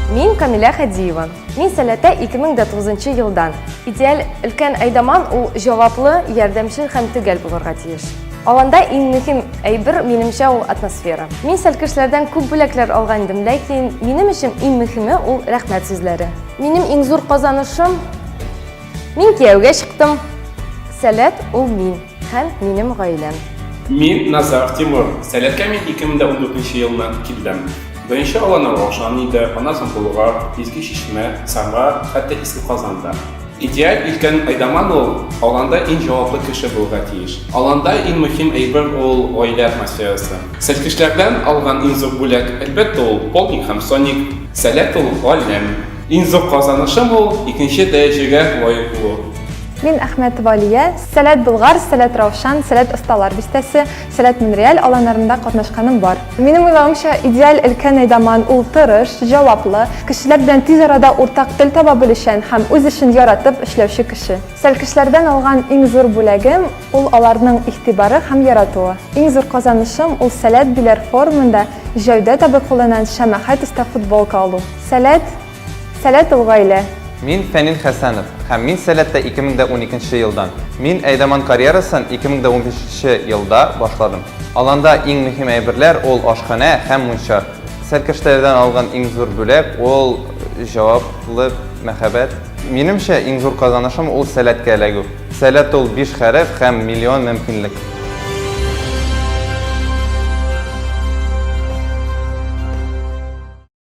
Мин Камиля Хадиева. Мин сәләтә 2009 елдан. Идеаль өлкән әйдаман ул җаваплы, ярдәмчел һәм төгәл булырга тиеш. Аланда иң мөһим әйбер минемчә ул атмосфера. Мин сәлкешләрдән күп бүләкләр алган идем, ләкин минем өчен иң мөһиме ул рәхмәт сүзләре. Минем иң зур казанышым мин кияүгә чыктым. Сәләт ул мин. Һәм минем гаиләм. Мин Назар Тимур. Сәләткә мин 2014 елнан килдем. Беренче аланы Раушан иде, аннан соң Болгар, Иске Чишмә, Самара, хәтта Иске Казан да. Идеаль өлкән Айдаман ул, аланда иң җаваплы кеше булырга тиеш. Аланда иң мөһим әйбер ул гаилә атмосферасы. Сәлкешләрдән алган иң зур бүләк, әлбәттә, ул Полник һәм Соник. Сәләт ул, галәм. Иң зур казанышым ул икенче дәрәҗәгә лаек булу. Мин Әхмәтова Алия, Сәләт Болгар, Сәләт Раушан, Сәләт Осталар бистәсе, Сәләт Монреаль аланнарында катнашканым бар. Минем уйлавымча, идеаль өлкән әйдаман ул тырыш, җаваплы, кешеләр белән тиз арада уртак тел таба белүчән һәм үз эшен яратып эшләүче кеше. Сәлкешләрдән алган иң зур бүләгем ул аларның игътибары һәм яратуы. Иң зур казанышым ул Сәләт Биләр форумында Җәүдәт абый кулыннан Шәмәхәт оста футболка алу. Сәләт, сәләт ул гаилә. Мин Фәнил Хәсәнов һәм мин Сәләттә 2012 нче елдан. Мин әйдаман карьерасын 2015 нче елда башладым. Аланда иң мөһим әйберләр ул ашханә һәм мунча. Сәркәштәләрдән алган иң зур бүләк ул җаваплык, мәхәббәт. Минемчә, иң зур казанышым ул Сәләткә эләгү. Сәләт ул биш хәреф һәм миллион мөмкинлек.